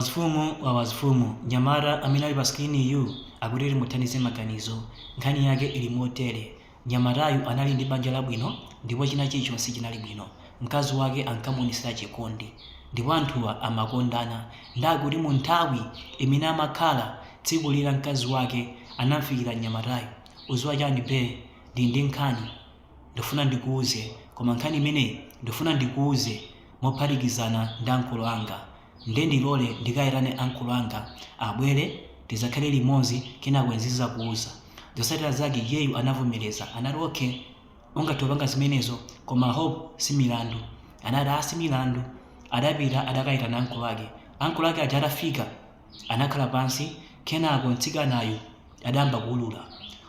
Wazifumu wa wazifumu mnyamata amene ali pa screen yu akuti timuthandize maganizo nkhani yake ili motere nyamatayu anali ndi banja labwino ndipo china chilichonse chinali bwino mkazi wake ankamuonesera chikondi ndipo anthuwa amakondana ndekuti munthawi imene amakhala tsiku lina mkazi wake anamfikira nyamatayu uziwa chani bae ndili ndi nkhani ndifuna ndikuuze koma nkhani imeneyi ndifuna ndikuuze mophatikizana ndi ankolo anga nde ndilole ndikayitane ankolo anga abwere tizakhale limozi kenako nzakuuza zosatira zake iyeyu anavomereza anati ok ungathe kupanga zimenezo koma hope si milandu anati aa si milandu adapita adakayitana ankolo ake ankolo ake aja atafika anakhala pansi kenako mtsikanayu adayamba kuulula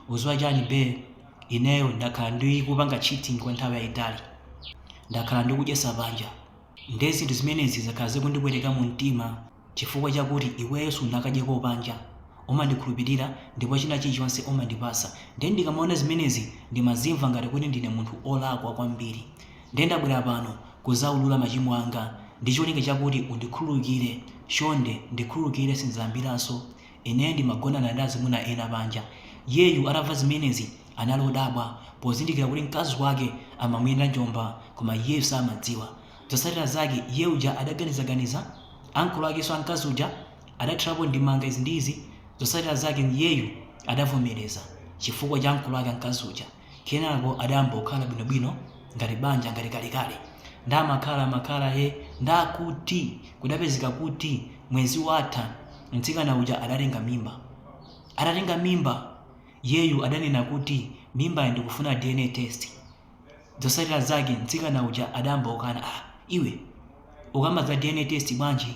uziwa chani bae ineyo ndakhala ndikupanga cheating kwa nthawi yayitali ndakhala ndikudyesa panja Nde zinthu zimenezi zakhala zikundipweteka mu mtima chifukwa chakuti iweyo sunakadyeko panja, umandikhulupilira ndipo china chilichonse umandipasa nde ndikamaona zimenezi ndimazimva ngati kuti ndine munthu olakwa kwambiri nde ndabwera pano kuzaulula machimo anga ndicholinga chakuti undikhululukire chonde ndikhululukire sinzayambiraso Ineyo ndimagonana ndi azimuna ena panja. Iyeyu atamva zimenezi anali odabwa pozindikira kuti mkazi wake amamuyenda njomba koma iyeyu samadziwa. Zotsatira zake iye uja adaganizaganiza, ankolo akenso a mkazi uja adathirapo ndemanga izi ndi izi. Zotsatira zake iyeyu adavomereza chifukwa cha ankolo ake a mkazi uja. kenako adayamba kukhala bwinobwino ngati banja ngati kalekale nde amakhala amakhala he ndekuti kudapezeka kuti mwezi watha mtsikana uja adatenga mimba atatenga mimba iyeyu adanena kuti mimbayi ndikufuna dna test zotsatira zake mtsikana uja adayamba kukana ah iwe ukamba za dna test bwanji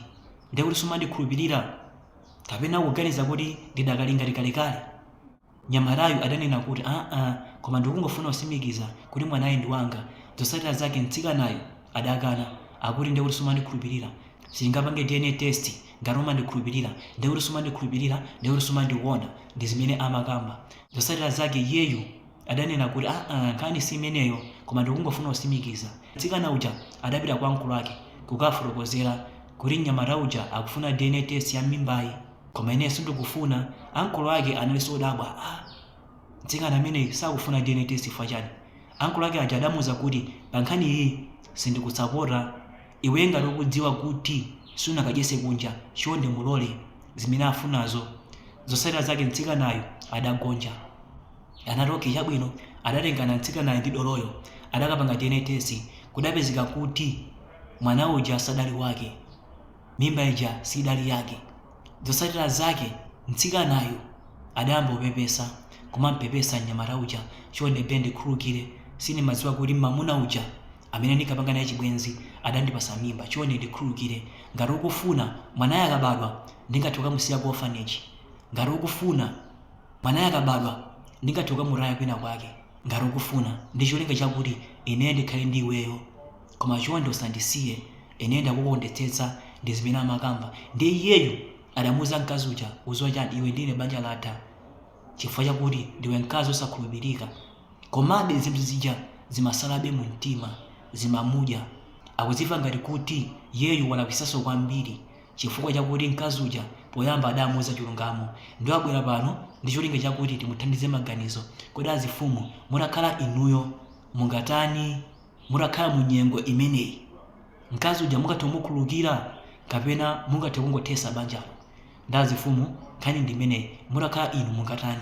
ndekuti sumandikhulupirira kapena ukuganiza kuti ndidakali ngati kalekale Mnyamatayu adanena kuti, Aa, koma ndikungofuna kusimikiza kuti mwanayi ndi wanga. Zotsatira zake mtsikanayu adakana, akuti ndiye kuti sumandikhulupilira, sitingapange DNA test, ngati umandikhulupilira ndiye kuti sumandikhulupilira ndiye kuti sumandikonda, ndi zimene amakamba. Zotsatira zake iyeyu adanena kuti, Aa, nkhani si imeneyo koma ndikungofuna kusimikiza. Mtsikana uja adapita kwa ankolo ake kukafotokozera kuti mnyamata uja akufuna DNA test ya mimbayi. koma ineyo sindikufuna ankolo ake analinso odabwa a mtsikana ameneyi sakufuna dna test chifukwa chani ankolo ake aja adamuuza kuti pa nkhani iyi sindikusapota iwe ngati ukudziwa kuti sunakadyese kunja chonde mulole zimene afunazo zosatira zake mtsikanayu adagonja anati okay chabwino adatengana mtsikanayo ndi doloyo adakapanga dna test kudapezeka kuti mwana uja sadali wake Mimba ija sidali yake. Zotsatira zake mtsikanayu adayamba kupepesa, kumampepesa mnyamata uja, chonde be ndikhululukire, sindimadziwa kuti mamuna uja amene ndinkapanga naye chibwenzi adandipatsa mimba, chonde ndikhululukire, ngati ukufuna, mwanayo akabadwa ndingathe kukamusiya ku orphanage, ngati ukufuna, mwanayo akabadwa ndingathe kukamutaya kwina kwake, ngati ukufuna, ndi cholinga chakuti ineyo ndikhale ndi iweyo, koma chonde usandisiye. Ine ndakukondetsetsa ndi zimene amakamba. Ndiye iyeyu adamuuza mkazi uja, udziwa chiyani, iwe ndi ine banja latha chifukwa chakuti ndiwe mkazi osakhulupirika. Komabe zinthu zija zimatsalabe mu mtima, zimamudya. Akudzimva ngati kuti iyeyu walakwitsanso kwambiri chifukwa chakuti mkazi uja poyamba adamuuza chilungamo. Ndiye wabwera pano ndi cholinga chakuti timuthandize maganizo. Kodi azimfumu mutakhala inuyo mungatani? mutakhala mu nyengo imeneyi mkazi uja mungathe kumukhululukira kapena mungathe kungothetsa banjalo nde azimfumu nkhani ndi imeneyi mutakhala inu mungatani